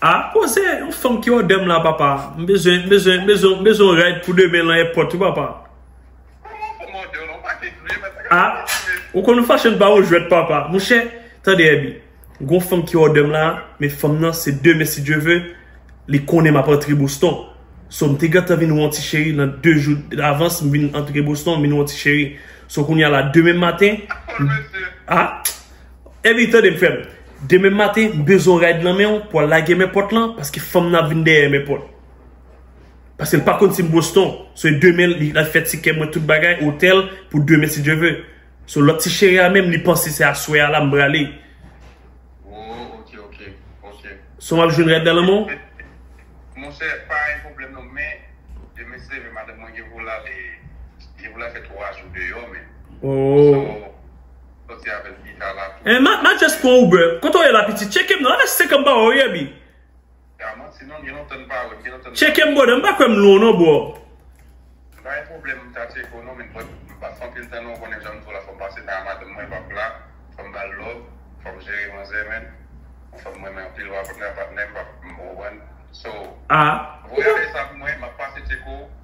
Ah koze yon fanm ki odèm la papa m bezwen m bezwen m bezwen m bezwen yon ride pou demen lan èpòt wi papa Ah ou konn fashion pa yon jwèt papa monchè tande Herby gon fanm ki odèm la men fanm nan se demen si Dieu veut li konnen map antre Boston so m te gentan vin wè yon ti cheri lan 2 jou davans m vin antre Boston m vin wè yon ti cheri so kounya la demen maten Ah. Ebi tande m frem, demen maten m bezwen yon ride nan menw pou al lage men pòt lan paske fanm nan ap vin dèyè men pòt. Paske l pa konn si m Boston, so e demen li al fè tikè mwen tout bagay, otèl pou demen si Dye ve. So lòt ti cheri a menm li panse se aswè a la m prale. So m ap jwenn ride nan lanmè w? Monchè pa gen pwoblèm non men demen si Dye ve madanm mwen gen pou l al e gen pou l al fè 3 jou deyò menm. So. Enh ma ma just pran uber. Kote w ye la pitit? Tcheke m non. Ann se kan m pa wè w ye Aby? Tcheke m brother m pa kwè m lwen w non bro. Ahh.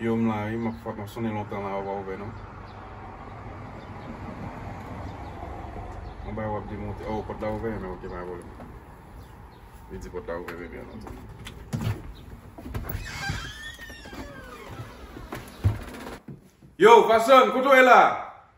Yo m la wi map fat map sonnen lontan la yo pa ouvè non yon bagay wap demonte oh pot la ouvè ok pa gen pwoblem li di pot la ouvè bebe an ok. Yo Fason kote w ye la